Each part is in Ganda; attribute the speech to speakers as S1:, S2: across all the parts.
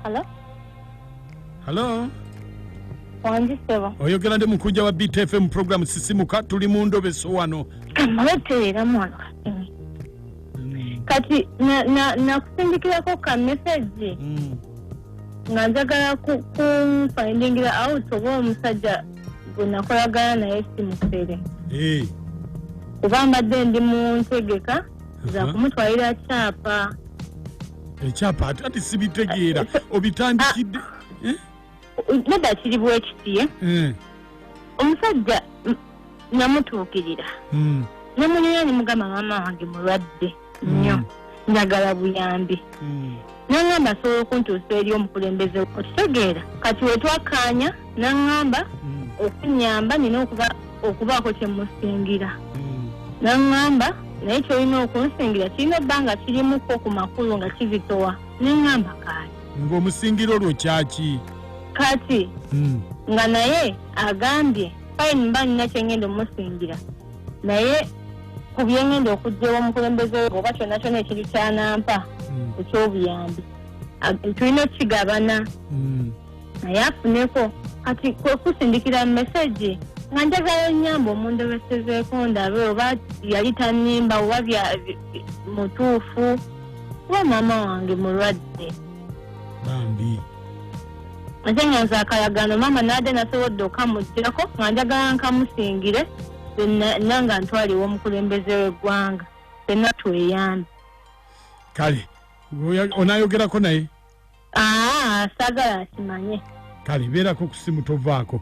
S1: Hello? Hello?
S2: Wangi sebo. Oyogera ndi
S1: mukujja wa BTFM program sisimuka tuli mu ndobeso wano. Kamweterera mwana kasimi.
S2: Mm. Kati na na nakusindikirako ka message. Mm. Nga njagala ku, ku findingira out oba omusajja gwe nakolagana naye si mufere Eh, kuba mbadde ndi mu ntegeka za Aha. kumutwalira kyapa
S1: ekyapa ate ati sibitegeera obitandikidde
S2: Eh? nedda kiri bwekiti eh? Eh, omusajja mm, namutuukirira mm. nemulira nemugamba maama wange mulwadde nnyo njagala buyambi naŋamba asobola okuntuusa eri omukulembeze okitegeera kati wetwakkaanya naŋamba okunyamba nina okuba okubaako kyemusingira naŋamba naye kyolina okunsingira kirina ebbanga kirimuko ku makulu nga kizitowa neŋamba kaati ng'omusingira olwo
S1: kyaki kati
S2: hmm. nga naye agambye fine mba nina kyengenda omusingira naye ku byengenda okugyewo omukulembeze oba kyonna kyona ekintu kyanampa hmm. ekyobuyambi tulina okukigabana hmm. naye afuneko kati kwekusindikira mu mesegi nga njagala enyamba omundobesezeeko ndabe oba yali tanimba oba mutuufu kuba maama wange mulwadde nze nga nze akalagano maama naade nasobodde okamugirako nga njagala nkamusingire nanga ntwaliwo omukulembeze w'eggwanga fenna tweyambe
S1: kale onayogerako naye aa ah,
S2: sagala akimanye kale beerako
S1: ku simu tovaako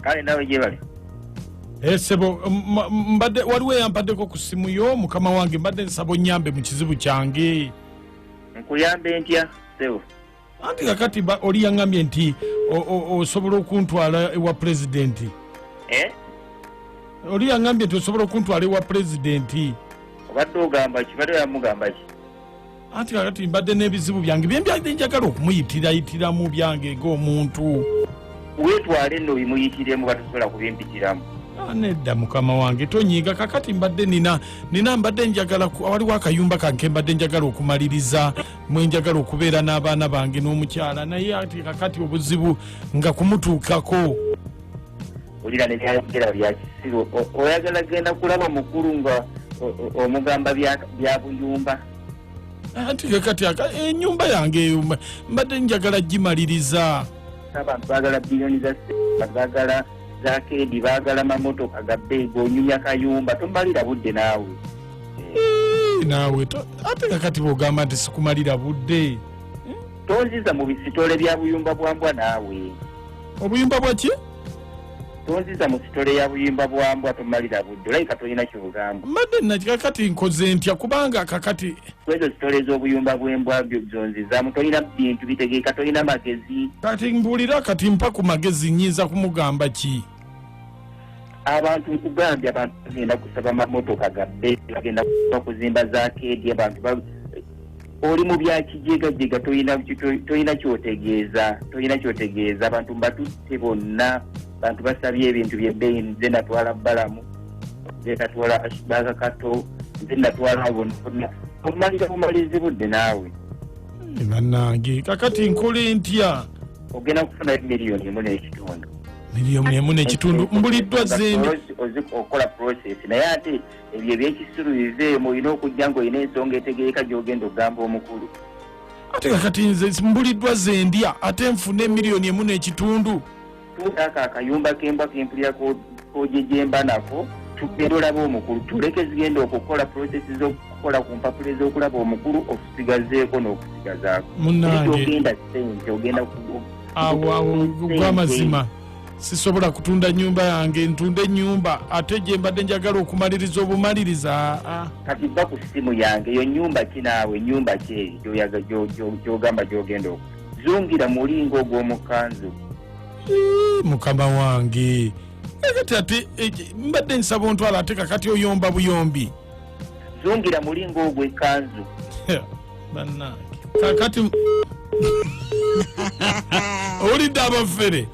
S1: kale
S3: nawe gyebali Eh,
S1: sebo m- m- mbadde waliwo eyampaddeko ku ssimu yo mukama wange mbadde nsaba onyambe mu kizibu kyange nkuyambe
S3: ntya sebo anti kakati
S1: ba- oli yaŋambye nti o- o- osobola okuntwala ewa pulezidenti Eh? oli yaŋambye nti osobola okuntwala ewa pulezidenti obadde
S3: ogamba ki badde bamugamba ki anti kakati
S1: mbadde n'ebizibu byange byembyadde njagala okumuyitirayitiramu byange ng'omuntu wetwale
S3: no bimuyitiremu batusobola kubimpitiramu ah, nedda
S1: mukama wange tonyiiga kakati mbadde nina nina mbadde njagala waliwo akayumba kanke mbadde njagala okumaliriza mwe njagala okubeera n'abaana bange n'omukyala naye ati kakati obuzibu nga kumutuukako
S3: olira nebyayogera byakisiru oyagala genda kulaba mukulu nga omugamba byabuyumba anti
S1: ke kati aka- enyumba yange eyo mba- mbadde njagala gimaliriza abantu bagala
S3: biliyoni za sente bagala za keedi bagala mamotoka ga beegi onyumya kayumba tomalira budde naawe Eh,
S1: naawe to- ate kakati bwogamba nti sikumalira budde tonziza
S3: mu bisitole bya buyumba bwa mbwa naawe obuyumba
S1: bwaki tonziza
S3: mu sitole ya buyimba bwa mbwa tomalira budde olabika tolina kyogamba mbadde nakika kati
S1: nkoze ntya kubanga kakati kwezo sitole
S3: ez'obuyumba bw'embwa byo zonzizamu tolina bintu bitegeeka tolina magezi kati mbuulira
S1: kati mpa ku magezi nyinza kumugamba ki
S3: abantu nkugambye abantu bagenda kusaba mamotoka gabbe bagenda kuba kuzimba za keedi abantu ba- oli mu bya kijegajega tolina kyotegeeza tolina kyotegeeza abantu mbatutte bonna bantu basabye ebintu byebbeyi nze natwala balamu nze natwala ashbaka kato nze natwala bona omalira bumalizi budde naawe eh, banange
S1: kakati nkole ntya ogenda kufunayo
S3: miliyoni emu n'ekitundu miliyoni emu
S1: n'ekitundu mbuliddwa zeni okola
S3: process naye ate ebyo ebyekisiru biveemu olina okujja nga olina ensonga etegereka gyogenda okugamba omukulu ate nga
S1: kati nze mbuliddwa zendya ate nfuna emiliyoni emu n'ekitundu tuutaako
S3: akayumba kembwa kempulira kojejemba nako tugenda olaba omukulu tuleke zigenda okukola prosesi zokukola ku mpapula ezokulaba omukulu okusigazeeko n'okusigazaako munange ogenda
S1: sente
S3: ogenda awo awo
S1: gwamazima sisobola kutunda nyumba yange ntunde enyumba ate gyembadde njagala okumaliriza obumaliriza ah. kati va ku
S3: simu yange yo nyumba kinaawe nyumba kyeeri gyogamba gyogenda oku zungira mulinga ogw'omukanzu
S1: mukama wange kati ate eh, mbadde nsaba ontwala ate kakati oyomba buyombi zungira
S3: mulinga ogw'ekanzu
S1: bannange kakati owulidde abafere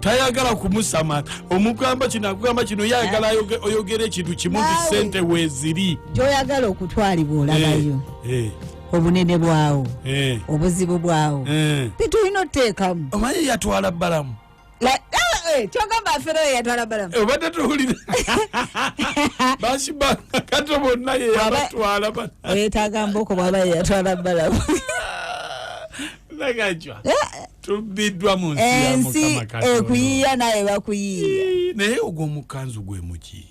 S1: tayagala kumusamata omugamba kino akugamba kino yayagala oyogera ekintu kimu nti sente weziri gyoyagala
S4: okutwalibwa olabayo eh, eh. obunene bwawo eh. obuzibu bwawo bitulina oteekamu omanyi yatwala
S1: balamu Eh,
S4: kyogamba afera oyo yatwala balamu eh, obadde tuwulire
S1: bakibanga kato bonna yeyabatwala oyetaaga mbooko
S4: bwaba yeyatwala balamu nagajwa
S1: eh, tubiddwa mu nsi ensi ekuyiya
S4: naye
S1: bakuyiya naye
S4: ogw'omukanzu
S1: gwe
S4: muki